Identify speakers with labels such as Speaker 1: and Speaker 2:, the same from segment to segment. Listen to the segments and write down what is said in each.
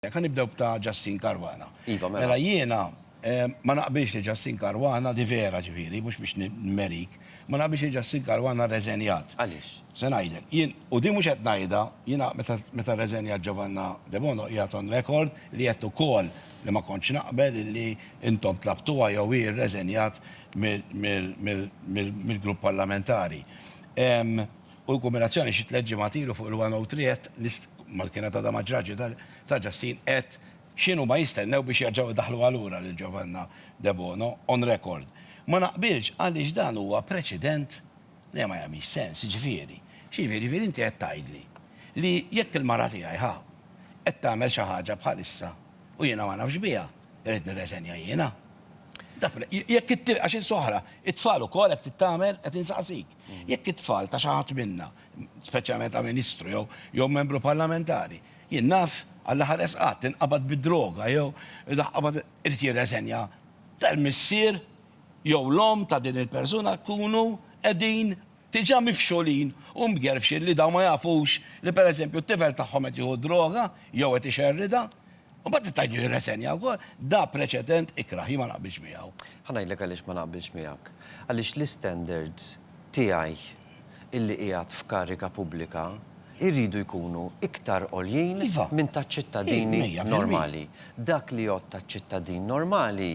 Speaker 1: Ħa nibdew b'ta' Justin Caruana. Iva, mela. Mela jiena ma naqbilx li Justin Caruana, di vera ġifieri, mhux biex nimmerik, ma naqbilx li Justin Caruana rreżenjat. Għaliex? Se ngħidlek.
Speaker 2: Jien,
Speaker 1: u din mhux qed ngħidha, jiena meta rreżenjat Giovanna Debono qiegħed on record li għedt ukoll li ma kontx naqbel illi intom tlabtuha jew hi rreżenjat mill-grupp parlamentari. u l-kombinazzjoni xi tliet ġimgħat ilu fuq il-103 mal-kienet għadha ma ġratx ta' Justin qed x'inhuma jistennew biex jerġgħu jdaħħluha lura lil Giovanna Debono on record. Ma naqbilx għaliex dan huwa preċedent li ma jagħmilx sens. Jiġifieri, x'jiġifieri? Jiġifieri inti qed tgħidli li jekk il-mara tiegħi ħa qed tagħmel xi ħaġa bħalissa u jiena ma nafx biha, irrid nirreżenja jiena? Dak jekk għax issa oħra, it-tfal ukoll hekk trid tagħmel? Qed insaqsik. Jekk it-tfal ta' xi ħadd minna, speċjalment ta' Ministru jew jew Membru Parlamentari, jien naf, Alla ħares qatt, inqabad bid-droga jew inqabad, irid jirreżenja. Ta' l-missier jew l-omm ta' din il-persuna jkunu qegħdin diġà mifxulin u mgerfxin li dawn ma jafux li pereżempju t-tifel tagħhom qed jieħu d-droga jew qed ixerridha. U mbagħad tista' ġġieli resenja wkoll. Da preċedent ikrah, jien ma naqbilx miegħu. Ħa ngħidlek għaliex ma
Speaker 2: naqbilx miegħek. Għaliex l-istandards tiegħi illi qiegħed f'kariga pubblika jridu jkunu iktar għoljin minn taċ-ċittadini normali. Dak li jgħodd taċ-ċittadin normali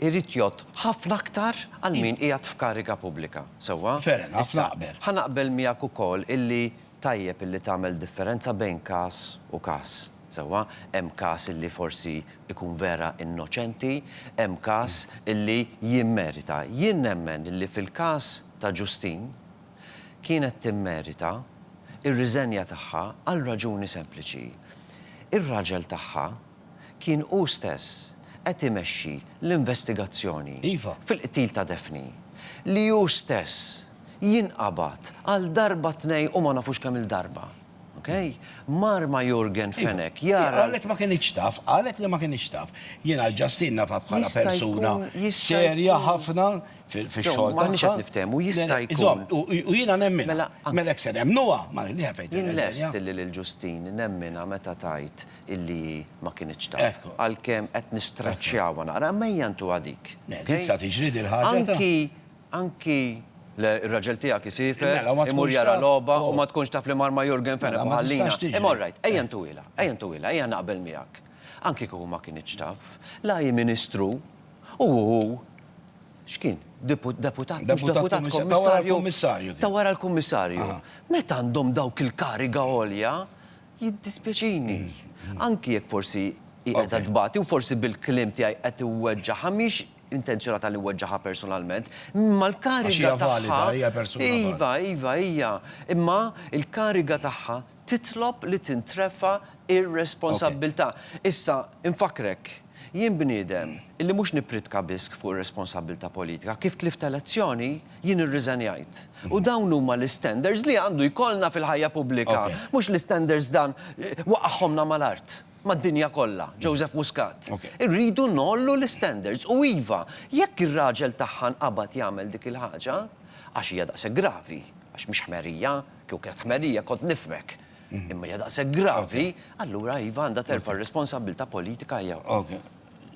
Speaker 2: irid jgħodd ħafna aktar għal min qiegħed f'kariga pubblika. Sewwa? Fair enough, naqbel.
Speaker 1: Ħa naqbel miegħek
Speaker 2: ukoll illi Tajjeb illi tagħmel differenza bejn każ u każ, sewwa? Hemm każ illi forsi jkun vera innoċenti, hemm każ illi jimmerita. Jien nemmen illi fil-każ ta' Ġustin kienet timmerita r-riżenja tagħha għal raġuni sempliċi. Ir-raġel tagħha kien hu stess qed imexxi l-investigazzjoni fil-qtil ta' Daphne, li hu stess, jinqabad għal darba tnej u ma nafux kemm il-darba. Ok? Mar ma' Yorgen Fenech jara. Hi qalet ma kinitx taf,
Speaker 1: qalet li ma kinitx taf. Jien għal Justine nafha bħala persuna serja ħafna fix-xogħol tagħha. M'aħniex qed niftehmu,
Speaker 2: jista' jkun. Iżomm, u jiena nemminha.
Speaker 1: Mela hekk se nemmnuha? Jien lest li lil
Speaker 2: Justine nemminha meta tgħid illi hi ma kinitx taf. Għalkemm qed nistraċċjawha naqra, imma hija ntuha dik. Le, dik sa tiġri
Speaker 1: dil-ħaġa ta'. Anki Anki
Speaker 2: Le, ir-raġel tiegħek isiefer, imur jara logħba u ma tkunx taf li mar ma' Jurgen Fenech u ħallina. Imma all right, ejja ntuwilha, ejja ntuwilha, ejja naqbel miegħek. Anki kieku ma kinitx taf, la hi Ministru u hu, x'kien, deputat, mhux deputat,
Speaker 1: kummissarju, ta' wara
Speaker 2: l-kummissarju. Meta għandhom dawk il-kariga għolja, jiddispjaċini. Anki jekk forsi hi qiegħda tbati u forsi bil-kliem tiegħi qed iweġġagħha, mhix intenzjonata li weġġagħha personalment, imma l-kariga tagħha. Għax hija valida, hija persuna valida. Iva, iva, hija. Imma l-kariga tagħha titlob li tintrefa' r-responsabbiltà. Issa, infakkrek, jien bniedem li mhux nippritka biss fuq ir-responsabbiltà politika. Kif tlift elezzjoni, jien irriżenjajt. U dawn huma l-istandards li għandu jkollna fil-ħajja pubblika. Mhux l-istandards dan waqagħhomna mal-art. mad-dinja kollha, Joseph Muscat. Irridu ngħollu l-istandards u iva, jekk ir-raġel tagħha nqabad jagħmel dik il-ħaġa, għax hija daqshekk gravi, għax mhix ħmerija, kieku kienet ħmerija kont nifhmek, imma hija daqshekk gravi, allura iva għandha terfa' r-responsabbiltà politika hija wkoll.